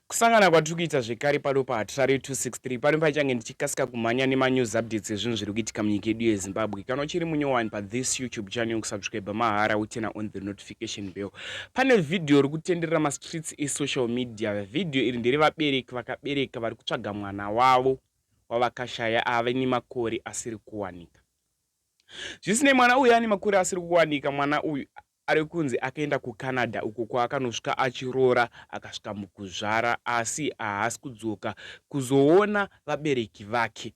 Kusangana kwatiri kuita zvekare pano paHatirare 263 pano paichange ndichikasika kumhanya nemanews updates ezvinhu zviri kuitika munyika yedu yeZimbabwe. Kana uchiri munyowani pathis YouTube channel kusubscriber mahara utena on the notification bell. Pane video iri kutenderera mastreets esocial media. Video iri ndere vabereki vakabereka vari kutsvaga mwana wavo wavakashaya ave nemakore asiri kuwanika. Zvisinei mwana uyu ane makore asiri kuwanika mwana uyu Ari kunzi akaenda kuCanada uko kwaakanosvika achiroora akasvika mukuzvara asi haasi kudzoka kuzoona vabereki vake.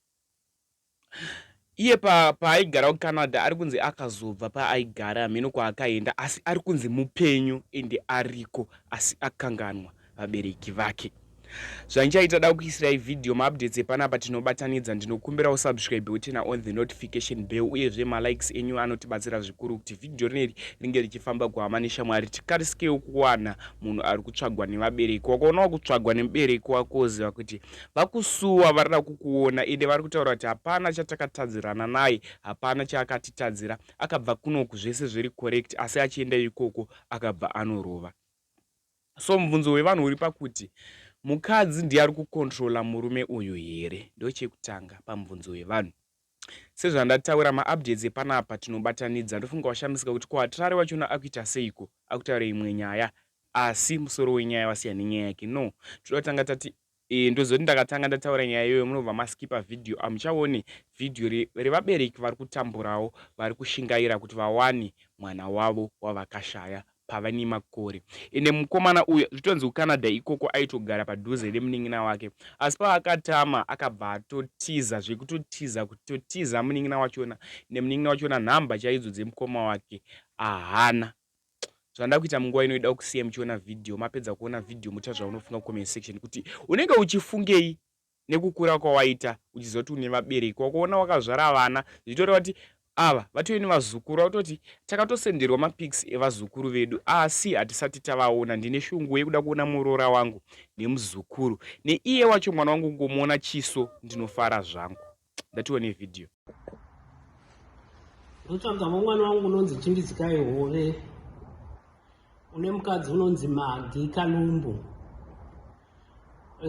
Iye paaigara kuCanada ari kunzi akazobva paaigara hameno kwaakaenda asi ari kunzi mupenyu ende ariko asi akanganwa. vabereki vake zvanchai tada kukuisirai vhidhiyo maupdates epanapa tinobatanidza ndinokumbira usubscribe utena on the notification bell uyezve malikes enyu anotibatsira zvikuru kuti vhidhiyo rineri ringe richifamba kuhama neshamwari tikarisikewo kuwana munhu ari kutsvagwa nevabereki wakaona wakutsvagwa nemubereki wako woziva kuti vakusuwa varida kukuona ende vari kutaura kuti hapana chatakatadzirana naye hapana chaakatitadzira akabva kunoku zvese zviri correct asi achienda ikoko akabva anorova So mubvunzo wevanhu uri pakuti mukadzi ndiye ari kucontrola murume uyu here ndochekutanga pamubvunzo wevanhu. Sezvandataura maupdates epanapa tinobatanidza ndofunga washamisika kuti ko Hatirare wachona akuita seiko akutaure imwe nyaya asi musoro wenyaya wasiyana nenyaya yake no toda kutanga tati Eeh ndozoti ndakatanga ndataura nyaya iyoyo munobva maskiper video hamuchaone video revabereki vari kutamburawo vari kushingaira kuti vawane mwana wavo wavakashaya pava nemakore ende mukomana uyu zvitonzi kuCanada ikoko aitogara padhuze nemunin'ina wake asi paakatama akabva atotiza zvekutotiza kuti totiza munin'ina wachona nemunin'ina wachona nhamba chaidzo dzemukoma wake ahana Zvandada kuita munguva ino ida kusiya muchiona video mapedza kuona video mucha zvaunofunga kucomment section kuti unenge uchifungei nekukura kwawaita uchizoti une vabereki wakuona wakazvara vana zvichitoreva kuti ava vatove nevazukuru vakutoti takatosenderwa mapics evazukuru vedu asi hatisati tavaona ndine shungu yekuda kuona muroora wangu nemuzukuru neiye wacho mwana wangu kungomuona chiso ndinofara zvangu ndatiwo ne video ndotsvagawo mwana wangu unonzi chimbizikai hove une mukadzi unonzi magi kalumbu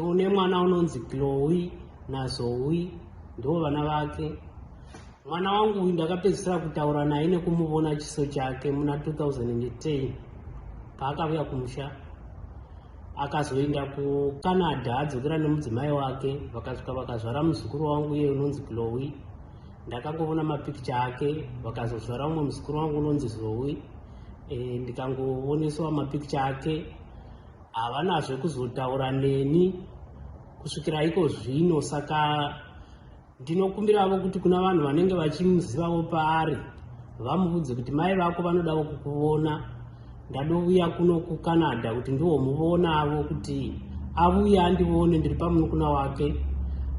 une mwana unonzi glowi nazowi ndiwo vana vake mwana wangu uyu ndakapedzisira kutaura naye nekumuvona chiso chake muna 2010 paakavuya kumusha akazoenda kucanada adzokera nemudzimai wake vakasvika vakazvara muzukuru wangu iye unonzi glowi ndakangovona mapikicha ake vakazozvara umwe muzukuru wangu unonzi zowi e, eh, ndikangovoneswa mapikicha ake havanazve kuzotaura neni kusvikira iko zvino saka Ndinokumbiravo kuti kuna vanhu vanenge vachimuzivawo paari vamuvudze kuti mai vako vanodavo kukuvona ndadouya kuno kucanada kuti ndiwo muvonavo kuti avuye andivone ndiri pamunukuna wake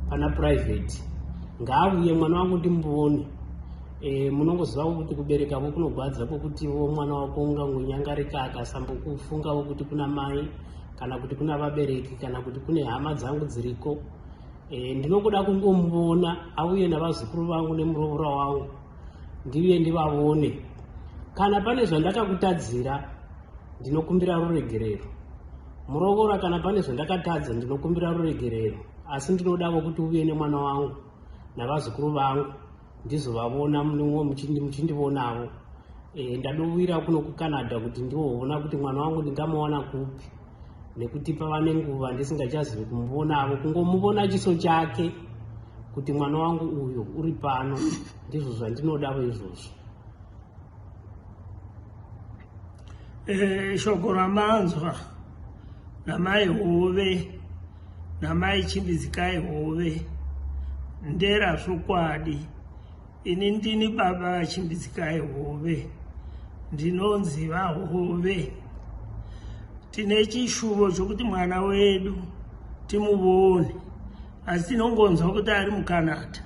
pana private ngaavuye mwana wangu ndimuvone e, eh, munongozivavo kuti kubereka vo kunogwadza kwokuti vo mwana wako ungangonyangarika akasambokufungavo kuti kuna mai kana kuti kuna vabereki kana kuti kune hama dzangu dziriko E, ndinokuda kungomuvona auye navazukuru vangu nemuroora wangu ndiuye ndivavone kana pane zvandakakutadzira ndinokumbira ruregerero muroora kana pane zvandakatadza ndinokumbira ruregerero asi ndinoda vokuti uve nemwana wangu navazukuru vangu ndizovavona munongo muchindivonavo e, ndadovira kuno kucanada kuti ndivovona kuti mwana wangu ndingamuwana kupi nekuti pava nenguva ndisingachazivi kumuvonavo kungomuvona chiso chake kuti mwana wangu uyo uri pano ndizvo zvandinodavo izvozvo e, shoko ramanzwa namai hove Namai Chimbizikai Hove ndera zvokwadi. Ini ndini baba vaChimbizikai Hove. Ndinonzi vaHove. Tine chishuvo chokuti mwana wedu timuvone asi tinongonzwa kuti ari muCanada.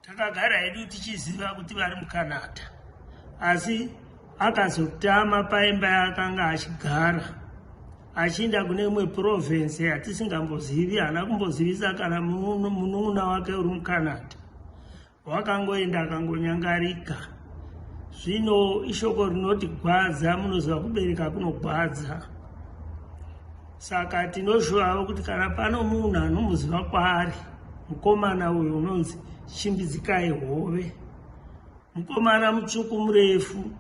Takagara hedu tichiziva kuti vari muCanada, asi akazotama paimba yaakanga achigara achiinda kune imwe province yatisingambozivi. Haana kumbozivisa kana munun'una wake uri muCanada, wakangoenda akangonyangarika. Zvino ishoko rinoti gwadza, munoziva kubereka kunogwadza. Saka tinozvivawo kuti kana pano munhu anomuziva kwaari mukomana uyu unonzi Chimbidzikai Hove, mukomana mutsvuku murefu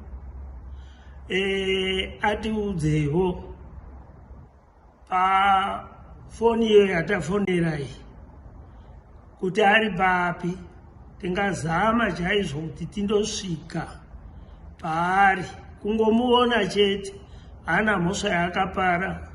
e, atiudzewo pafoni iyo yatafonera iyi. kuti ari papi tingazama chaizvo kuti tindosvika paari kungomuona chete hana mhosva yaakapara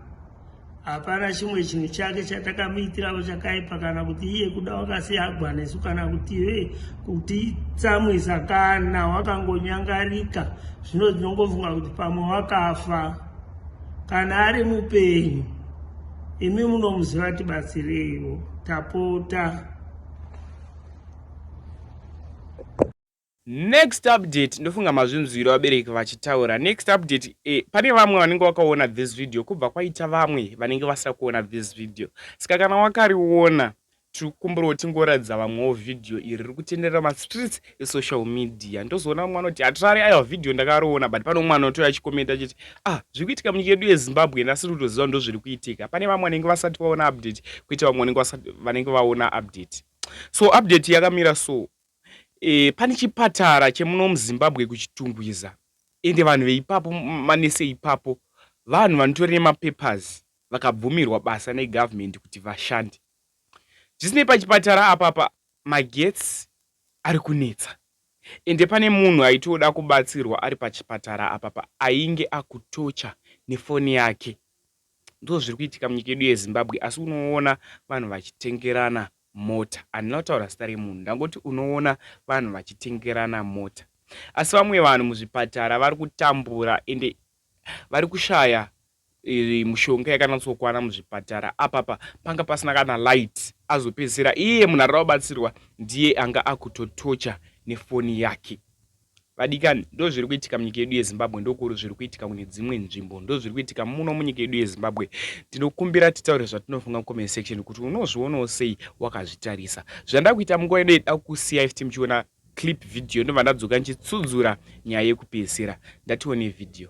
hapana chimwe chinhu chake chatakamuitiravo chakaipa kana kuti iye kuda wakasiyagwa nesu kana kuti ive kutitsamwisa kana wakangonyangarika zvino tinongofunga kuti pamwe wakafa kana ari mupenyu imi munomuziva tibatsireiwo tapota next update ndofunga mazvinzwiro vabereki vachitaura next update eh, pane vamwe vanenge vakaona this video kubva kwaita vamwe vanenge vasina kuona this video saka kana wakariona Tirikukumbirawo tingoratidza vamwewo video iri rikutenderera ma streets e social media ndozoona vamwe vanoti hatirare aiwa video ndakaroona but pane umwe anotouya achikomenta achiti ah zvirikuitika munyika yedu yezimbabwe and asiri kutoziva ndozvirikuitika pane vamwe vanenge vasati vaona update kuita vamwe vanenge vaona update so update yakamira so e, pane chipatara chemuno muzimbabwe kuchitungwiza ende vanhu veipapo manese ipapo vanhu vanotori nemapapers vakabvumirwa basa negovernment kuti vashande Zvisinei pachipatara apapa magetsi ari kunetsa ende pane munhu aitoda kubatsirwa ari pachipatara apapa ainge akutocha nefoni yake. Ndozviri kuitika munyika yedu yeZimbabwe asi unoona vanhu vachitengerana mota. Handina kutaura zita remunhu ndangoti unoona vanhu vachitengerana mota. Asi vamwe vanhu muzvipatara vari kutambura ende vari kushaya mushonga yakanatsokwana muzvipatara apapa panga pasina kana light azopedzisira iye munhu arira kubatsirwa ndiye anga akutotocha nefoni yake vadikani ndozviri kuitika munyika yedu yezimbabwe ndokuri zviri kuitika kune dzimwe nzvimbo ndozviri kuitika muno munyika yedu yezimbabwe tinokumbira titaure zvatinofunga comment section kuti unozvionawo sei wakazvitarisa zvandakuita munguva yedu yeda kusiya ifti muchiona clip video ndobva ndadzoka ndichitsudzura nyaya yekupedzisira ndatione video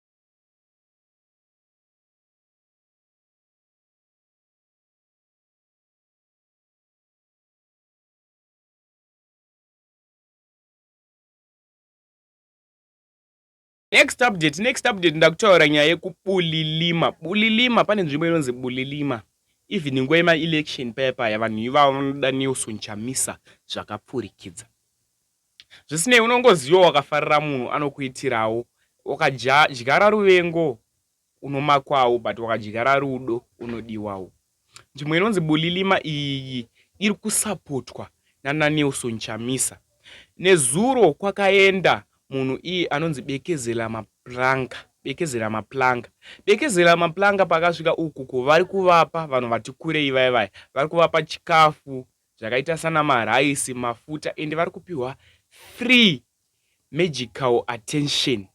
next update next update ndakutaura nyaya yekubulilima bulilima pane nzvimbo inonzi bulilima even nguva yemaelection paya paya vanhu ivavo vanoda nelson chamisa zvakapfurikidza Zvisinei, unongozivawo wakafarira munhu anokuitirawo. Wakadyara ruvengo unomakwawo but wakadyara rudo unodiwawo. Nzvimbo inonzi Bulilima iyi iri kusapotwa nanaNelson Chamisa. Nezuro kwakaenda munhu iye anonzi Bekezela Maplanga. Bekezela Maplanga. Bekezela Maplanga paakasvika uku ko vari kuvapa vanhu vati kurei vaya vaya vari kuvapa chikafu zvakaita sana marice, mafuta ende vari kupihwa free magical attention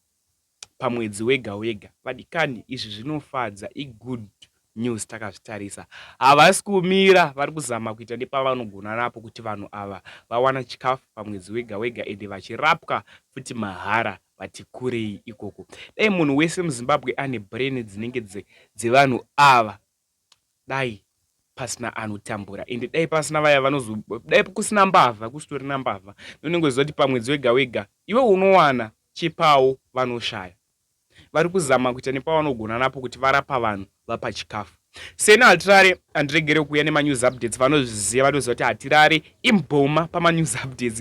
pamwedzi wega wega. Vadikani izvi zvinofadza i good news takazvitarisa. Havasi kumira vari kuzama kuita nepavanogona napo kuti vanhu ava vawana chikafu pamwedzi wega wega ende vachirapwa futi mahara vati kurei ikoko. Dai munhu wese muZimbabwe ane brain dzinenge dzevanhu ava dai pasina anotambura ende dai pasina vaya vanozo dai kusina mbavha kusitorina mbavha nonenge uziva kuti pamwedzi wega wega iwe unowana chepawo vanoshaya vari kuzama kuita nepavanogona napo kuti varapa vanhu vapa chikafu seni hatirare handiregere kuuya nemanews updates vanozviziva vanoziva kuti hatirare imboma pamanews updates